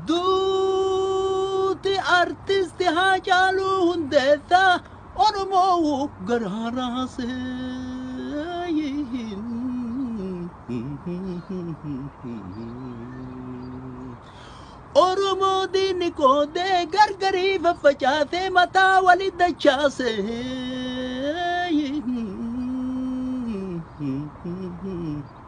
Duuti artisti Haacaaluu Hundeessaa Oromoo garaa raasee. Oromoo diinni qoodee gargarii faffacaasee mataa wali dachaase.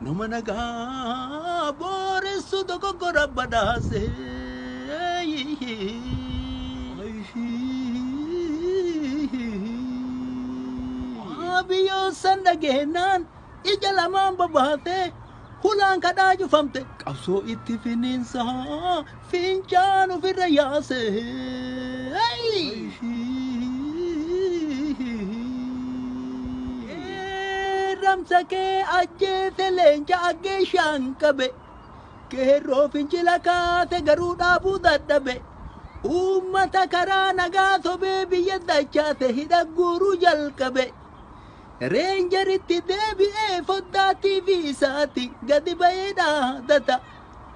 Nama nagaa booressu dogoggora badhaase. Abiyoon san dhageenyaan ija lamaan babaate hulaan kadhaa cufamte qabsoo itti finiinsa Fincaan ofirra yaase. Qeerramsa kee ajjeese leenca aggeeshaan qabe. Qeerroo fincila kaase garuu dhaabuu dadhabe. Uummata karaa nagaa sobee biyya dachaase hidha guuruu jalqabe. Reenjeritti deebi'ee foddaa TV isaati gadi ba'ee dhaadata.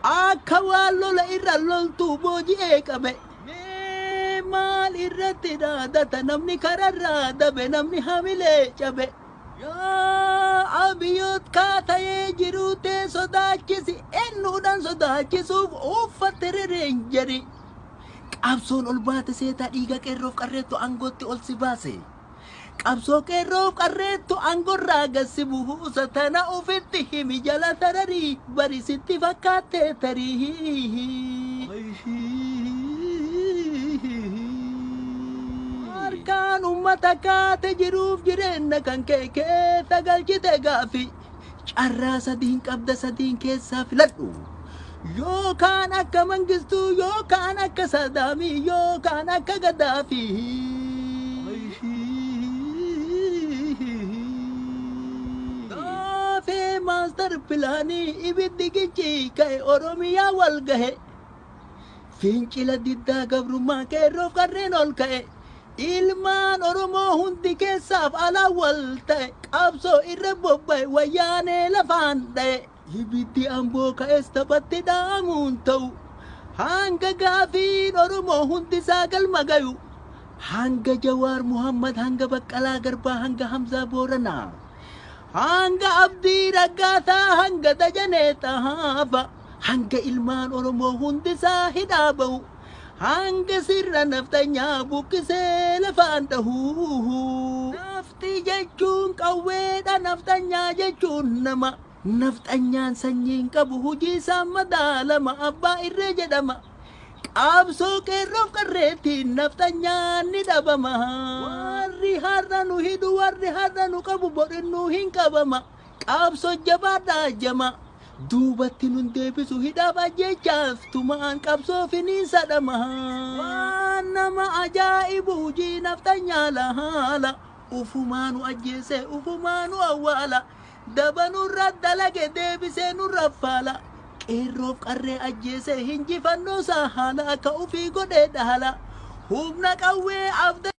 Akka waan lola irra loltuu booji'ee qabe. Mee maal irratti dhaadata namni kararraa dabe namni hamilee cabe. Yaa Abiyoot kaa ta'ee jiruu tee sodaachisi ennuudhaan sodaachisuuf uuffatte rereenjeri. Qabsoon ol baate seetaa dhiiga qeerroof qarreettu aangootti ol si baase. Qabsoo qeerroof qarreettu angorraa gad si buusa tana ufitti himi jala tararii bari sitti fakkaattee tarii. Harkaan ummata kaate jiruuf jireenna kan kee keessa galchite gaaffii Carraa sadiin qabda sadiin keessaa filadhu. Yoo kaan akka Mangistuu, yoo kaan akka Saadaamii, yoo kaan akka Gaddaafii. Gaafee maastar pilaanii ibiddi gichii ka'e Oromiyaa wal gahe. Fincila diddaa gabrummaa qeerroof qarreen ol ka'e. Ilmaan Oromoo hundi keessaaf alaan wal ta'e, qabsoo irra bobba'e, Wayyaanee lafaan dha'e. Ibiddi Amboo ka'es taphatti dhaamuun ta'u. Hanga gaafiin Oromoo hundisaa galma gayu. Hanga Jawaar Muhammad, hanga Baqqalaa Garbaa, hanga Hamzaa Booranaa. Hanga Abdii Raggaasaa, hanga Dajanee Xahaafa. Hanga ilmaan Oromoo hundisaa hidhaa ba'u. Hanga sirna nafxanyaa buqqisee lafaan dhahu. Nafxii jechuun qawweedha nafxanyaa jechuun nama. Nafxanyaan sanyii hin qabu hujiisaan madaalama abbaa irree jedhama. Qabsoo qeerroof qarreettiin nafxanyaan ni dhabama. Warri har'a nu hidhu warri har'a nu qabu bor innuu hin qabama. Qabso jabaadha jamaa. Duubatti nun deebisu hidhaaf ajjeechaaf tumaan qabsoo finiinsa dhamaha. Waan nama ajaa'ibu hujii nafxanyaa lahaala. Ufumaa nu ajjeese ufumaa nu awwaala. Daba nurra dalage deebisee nurra faala. Qeerroof qarree ajjeese hinjifannoosaa haala akka ufii godhee dhaala. Humna qawwee abda.